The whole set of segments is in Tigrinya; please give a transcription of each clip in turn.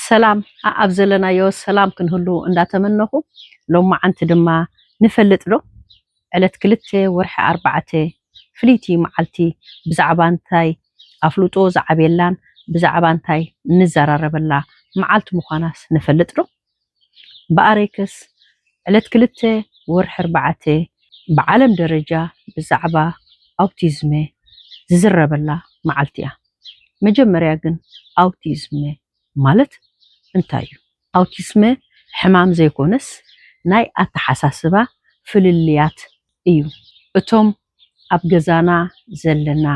ሰላም ኣብ ዘለናዮ ሰላም ክንህሉ እንዳተመነኹ ሎማዓንቲ ድማ ንፈልጥ ዶ ዕለት ክልተ ወርሒ ኣርባዕተ ፍልይቲ ማዓልቲ ብዛዕባ እንታይ ኣፍልጦ ዝዓብየላን ብዛዕባ እንታይ ንዘራረበላ ማዓልቲ ምዃናስ ንፈልጥ ዶ? ብኣሬክስ ዕለት ክልተ ወርሒ ኣርባዕተ ብዓለም ደረጃ ብዛዕባ ኣውቲዝመ ዝዝረበላ መዓልቲ እያ። መጀመርያ ግን ኣውቲዝመ ማለት እንታይ እዩ? ኣውቲስመ ሕማም ዘይኮነስ ናይ ኣተሓሳስባ ፍልልያት እዩ። እቶም ኣብ ገዛና ዘለና፣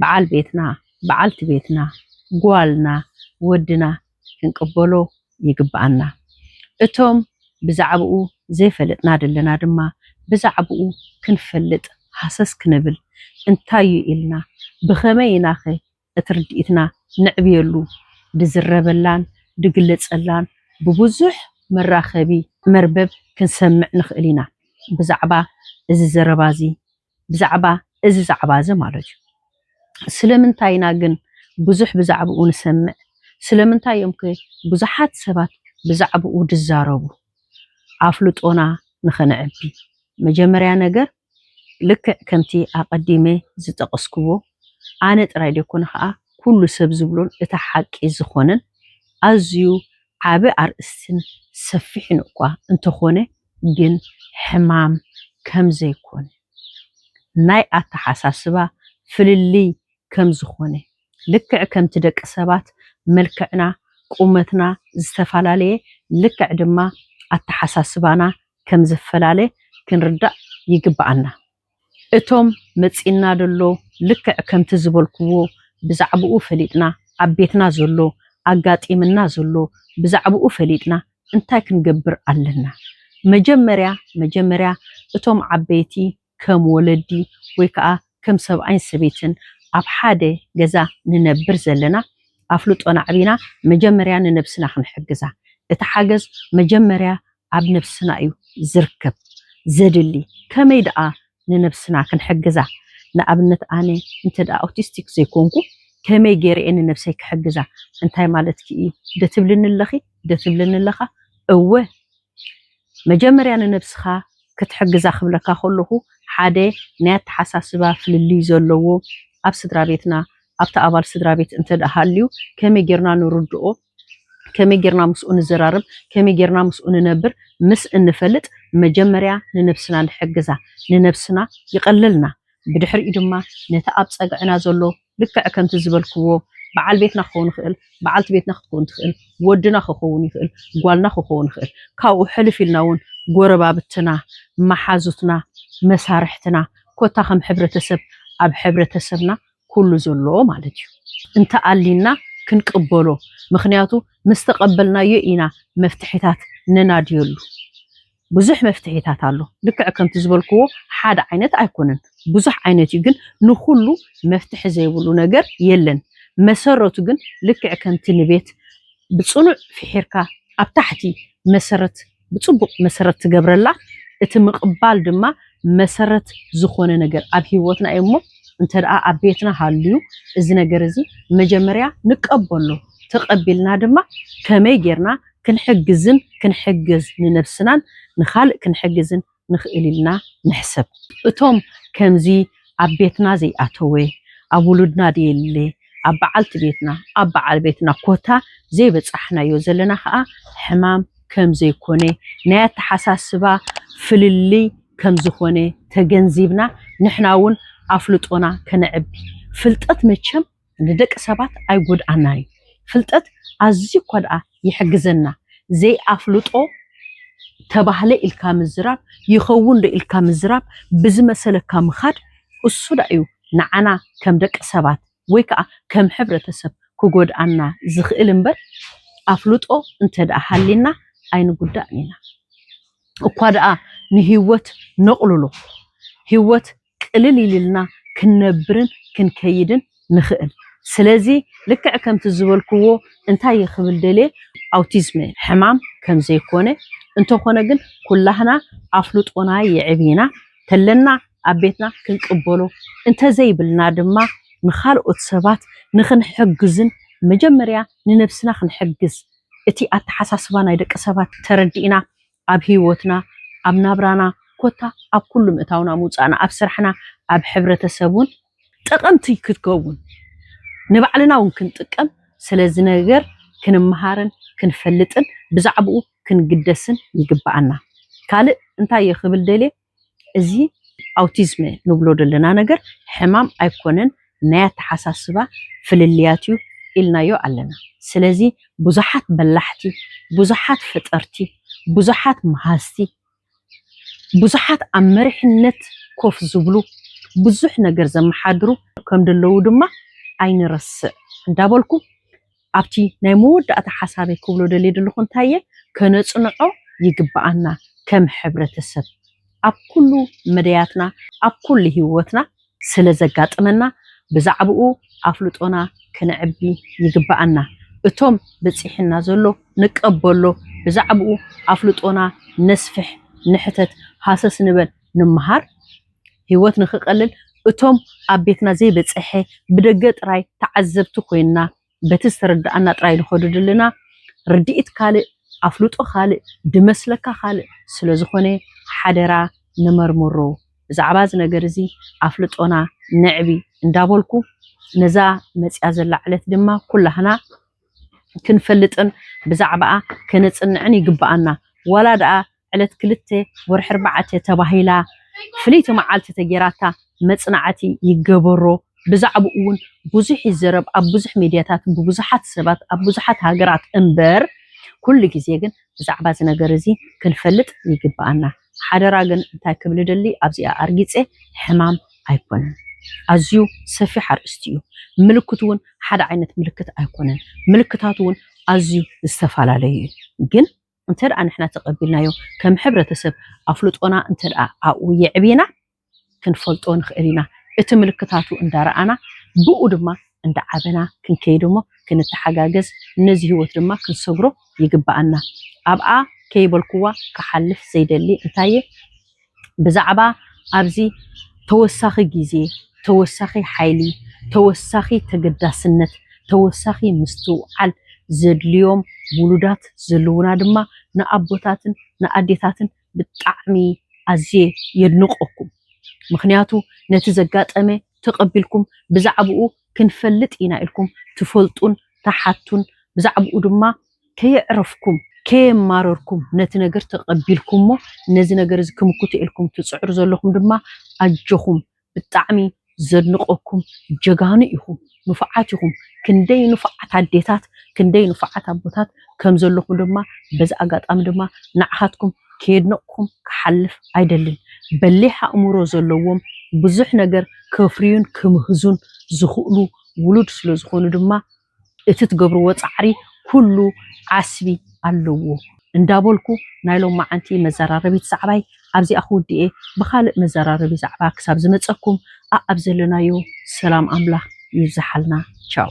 በዓል ቤትና፣ በዓልቲ ቤትና፣ ጓልና፣ ወድና፣ ክንቅበሎ ይግብኣና። እቶም ብዛዕባኡ ዘይፈለጥና ዘለና ድማ ብዛዕባኡ ክንፈልጥ ሃሰስ ክንብል እንታይ እዩ ኢልና ብኸመይ ኢናኸ እቲ ርድኢትና ነዕብየሉ ድዝረበላን ድግለጸላን ብብዙሕ መራኸቢ መርበብ ክንሰምዕ ንኽእል ኢና። ብዛዕባ እዚ ዘረባዚ ብዛዕባ እዚ ዛዕባ እዚ ማለት እዩ። ስለምንታይ ኢና ግን ብዙሕ ብዛዕብኡ ንሰምዕ? ስለምንታይ እዮም ከ ብዙሓት ሰባት ብዛዕብኡ ዝዛረቡ? ኣፍልጦና ንኸነዕቢ፣ መጀመርያ ነገር ልክዕ ከምቲ ኣቐዲመ ዝጠቐስክዎ፣ ኣነ ጥራይ ዘይኮነ ኸኣ ኩሉ ሰብ ዝብሎን እቲ ሓቂ ዝኾነን ኣዝዩ ዓቢ ኣርእስትን ሰፊሕን እኳ እንተኾነ፣ ግን ሕማም ከም ዘይኮነ፣ ናይ ኣተሓሳስባ ፍልልይ ከም ዝኾነ፣ ልክዕ ከምቲ ደቂ ሰባት መልክዕና፣ ቁመትና ዝተፈላለየ ልክዕ ድማ ኣተሓሳስባና ከም ዝፈላለ ክንርዳእ ይግበኣና። እቶም መጺእና ደሎ ልክዕ ከምቲ ዝበልኩዎ ብዛዕብኡ ፈሊጥና ኣብ ቤትና ዘሎ ኣጋጢምና ዘሎ ብዛዕብኡ ፈሊጥና እንታይ ክንገብር ኣለና መጀመርያ መጀመርያ እቶም ዓበይቲ ከም ወለዲ ወይ ከኣ ከም ሰብኣይን ሰበይትን ኣብ ሓደ ገዛ ንነብር ዘለና ኣፍልጦና ኣዕቢና መጀመርያ ንነብስና ክንሕግዛ እቲ ሓገዝ መጀመርያ ኣብ ነብስና እዩ ዝርከብ ዘድሊ ከመይ ደኣ ንነብስና ክንሕግዛ ንኣብነት ኣነ እንተ ኣውቲስቲክ ዘይኮንኩ ከመይ ጌረ እየ ንነብሰይ ክሕግዛ እንታይ ማለትኪ እዩ ዶ ትብልኒ ኣለኺ ዶ ትብለኒ ኣለኻ እወ መጀመርያ ንነብስኻ ክትሕግዛ ክብለካ ከለኹ ሓደ ናይ ኣተሓሳስባ ፍልልይ ዘለዎ ኣብ ስድራቤትና ኣብቲ ኣባል ስድራቤት እንተ ሃልዩ ከመይ ጌርና ንርድኦ ከመይ ጌርና ምስኡ ንዘራረብ፣ ከመይ ጌርና ምስኡ ንነብር ምስ እንፈልጥ መጀመርያ ንነብስና ንሕግዛ፣ ንነብስና ይቐለልና። ብድሕሪኡ ድማ ነቲ ኣብ ጸግዕና ዘሎ ልክዕ ከምቲ ዝበልክዎ በዓል ቤትና ክኸውን ይኽእል፣ በዓልቲ ቤትና ክትከውን ትኽእል፣ ወድና ክኸውን ይኽእል፣ ጓልና ክኸውን ይኽእል። ካብኡ ሕልፍ ኢልና እውን ጎረባብትና፣ መሓዙትና፣ መሳርሕትና ኮታ ከም ሕብረተሰብ ኣብ ሕብረተሰብና ኩሉ ዘሎ ማለት እዩ እንተ ኣሊና ክንቅበሎ ምክንያቱ ምስ ተቀበልናዮ ኢና መፍትሒታት ነናድየሉ ብዙሕ መፍትሒታት ኣሎ ልክዕ ከምቲ ዝበልክዎ ሓደ ዓይነት ኣይኮነን ብዙሕ ዓይነት እዩ ግን ንኩሉ መፍትሒ ዘይብሉ ነገር የለን መሰረቱ ግን ልክዕ ከምቲ ንቤት ብጽኑዕ ፊሒርካ ኣብ ታሕቲ መሰረት ብጽቡቕ መሰረት ትገብረላ፣ እቲ ምቕባል ድማ መሰረት ዝኾነ ነገር ኣብ ህይወትና እዩ እሞ እንተ ደኣ ኣብ ቤትና ሃልዩ እዚ ነገር እዚ መጀመርያ ንቀበሎ፣ ተቐቢልና ድማ ከመይ ጌርና ክንሕግዝን ክንሕግዝ ንነብስናን ንኻልእ ክንሕግዝን ንኽእል ኢልና ንሕሰብ። እቶም ከምዚ ኣብ ቤትና ዘይኣተወ፣ ኣብ ውሉድና ደየለ፣ ኣብ በዓልቲ ቤትና፣ ኣብ በዓል ቤትና ኮታ ዘይበጻሕናዮ ዘለና ከኣ ሕማም ከም ዘይኮነ፣ ናይ ኣተሓሳስባ ፍልልይ ከም ዝኾነ ተገንዚብና ንሕና'ውን ኣፍልጦና ከነዕቢ። ፍልጠት መቸም ንደቂ ሰባት ኣይጎድኣናን'ዩ። ፍልጠት ኣዝዩ እኳ ደኣ ይሕግዘና፣ ዘይኣፍልጦ ተባህለ ኢልካ ምዝራብ፣ ይኸውን'ዶ ኢልካ ምዝራብ፣ ብዝመሰለካ ምኻድ እሱ ደኣ'ዩ ንዓና ከም ደቂ ሰባት ወይ ከኣ ከም ሕብረተሰብ ክጎድኣና ዝኽእል እምበር ኣፍልጦ እንተ ደኣ ሃልዩና ኣይንጉዳእን ኢና። እኳ ደኣ ንህይወት ነቕልሎ፣ ህይወት ቅልል ኢልልና ክንነብርን ክንከይድን ንኽእል። ስለዚ ልክዕ ከምቲ ዝበልክዎ እንታይ እየ ክብል ደልየ ኣውቲዝም ሕማም ከም ዘይኮነ እንተኾነ ግን ኩላህና ኣፍልጦና የዕቢና ተለና ኣብ ቤትና ክንቅበሎ እንተዘይብልና ድማ ንኻልኦት ሰባት ንኽንሕግዝን መጀመርያ ንነብስና ክንሕግዝ እቲ ኣተሓሳስባ ናይ ደቂ ሰባት ተረዲእና ኣብ ሂወትና ኣብ ናብራና ኮታ ኣብ ኩሉ ምእታውና ምውጻእና ኣብ ስራሕና ኣብ ሕብረተሰብ ውን ጠቀምቲ ክትከውን ንባዕልና ውን ክንጥቀም ስለዚ ነገር ክንመሃርን ክንፈልጥን ብዛዕብኡ ክንግደስን ይግበኣና ካልእ እንታይ እየ ክብል ደልየ እዚ ኣውቲዝም ንብሎ ዘለና ነገር ሕማም ኣይኮነን ናይ ኣተሓሳስባ ፍልልያት እዩ ኢልናዮ ኣለና። ስለዚ ብዙሓት በላሕቲ፣ ብዙሓት ፈጠርቲ፣ ብዙሓት መሃዝቲ፣ ብዙሓት ኣብ መሪሕነት ኮፍ ዝብሉ፣ ብዙሕ ነገር ዘመሓድሩ ከምደለዉ ድማ ኣይንረስዕ እንዳበልኩ፣ ኣብቲ ናይ መወዳእታ ሓሳበይ ክብሎ ደልየ ዘለኹ እንታይ እየ ከነጽንዖ ይግብኣና ከም ሕብረተሰብ ኣብ ኩሉ መዳያትና ኣብ ኩሉ ሂወትና ስለ ዘጋጥመና ብዛዕብኡ ኣፍልጦና ክነዕቢ ይግብኣና እቶም በጺሕና ዘሎ ንቀበሎ ብዛዕብኡ ኣፍልጦና ነስፍሕ ንሕተት ሃሰስ ንበል ንመሃር ህይወት ንኽቐልል እቶም ኣብ ቤትና ዘይበጸሐ ብደገ ጥራይ ተዓዘብቲ ኮይንና በቲ ዝተረደኣና ጥራይ ንኸዱድልና ርድኢት ካልእ ኣፍልጦ ካልእ ድመስለካ ካልእ ስለዝኾነ ሓደራ ንመርምሮ ብዛዕባ እዚ ነገር እዚ ኣፍልጦና ነዕቢ እንዳበልኩ ነዛ መጺኣ ዘላ ዕለት ድማ ኩላህና ክንፈልጥን ብዛዕባኣ ከነጽንዕን ይግበኣና ዋላ ደኣ ዕለት ክልተ ወርሒ ኣርባዕተ ተባሂላ ፍልይቲ መዓልቲ ተጌራታ መጽናዕቲ ይገበሮ ብዛዕብኡ ውን ብዙሕ ይዘረብ ኣብ ብዙሕ ሜድያታትን ብብዙሓት ሰባት ኣብ ብዙሓት ሃገራት እምበር ኩሉ ግዜ ግን ብዛዕባ እዚ ነገር እዚ ክንፈልጥ ይግብኣና ሓደራ ግን እንታይ ክብል ደሊ ኣብዚኣ ኣርጊጸ ሕማም ኣይኮነን ኣዝዩ ሰፊሕ ኣርእስቲ እዩ ምልክቱ ውን ሓደ ዓይነት ምልክት ኣይኮነን ምልክታቱ ውን ኣዝዩ ዝተፈላለዩ እዩ ግን እንተደኣ ንሕና ተቐቢልናዮ ከም ሕብረተሰብ ኣፍልጦና እንተደኣ ኣብኡ የዕቢና ክንፈልጦ ንኽእል ኢና። እቲ ምልክታቱ እንዳረኣና ብኡ ድማ እንዳዓበና ክንከይድ እሞ ክንተሓጋገዝ ነዚ ህይወት ድማ ክንሰግሮ ይግበኣና። ኣብኣ ከይበልኩዋ ክሓልፍ ዘይደሊ እንታይ'የ? ብዛዕባ ኣብዚ ተወሳኺ ግዜ፣ ተወሳኺ ሓይሊ፣ ተወሳኺ ተገዳስነት፣ ተወሳኺ ምስትውዓል ዘድልዮም ውሉዳት ዘለዉና ድማ ንኣቦታትን ንኣዴታትን ብጣዕሚ ኣዝየ የድንቐኩም። ምኽንያቱ ነቲ ዘጋጠመ ተቐቢልኩም ብዛዕብኡ ክንፈልጥ ኢና ኢልኩም ትፈልጡን ትሓቱን ብዛዕብኡ ድማ ከየዕረፍኩም ከየማረርኩም ነቲ ነገር ተቐቢልኩሞ ነዚ ነገር እዚ ክምክቱ ኢልኩም ትጽዕሩ ዘለኹም ድማ ኣጆኹም ብጣዕሚ ዘድንቐኩም ጀጋኑ ኢኹም ንፉዓት ኢኹም ክንደይ ንፉዓት ኣዴታት ክንደይ ንፉዓት ኣቦታት ከም ዘለኹም ድማ በዚ ኣጋጣሚ ድማ ንዓኻትኩም ከየድነቕኩም ክሓልፍ ኣይደልን በሊሕ ኣእምሮ ዘለዎም ብዙሕ ነገር ከፍርዩን ክምህዙን ዝኽእሉ ውሉድ ስለ ዝኾኑ ድማ እቲ ትገብርዎ ጻዕሪ ኩሉ ዓስቢ ኣለዎ እንዳበልኩ ናይ ሎማዓንቲ መዘራረቢት ዛዕባይ ኣብዚኣ ክውድእየ ብኻልእ መዘራረቢ ዛዕባ ክሳብ ዝመጸኩም ኣኣብ ዘለናዮ ሰላም ኣምላኽ ይብዛሓልና ቻው።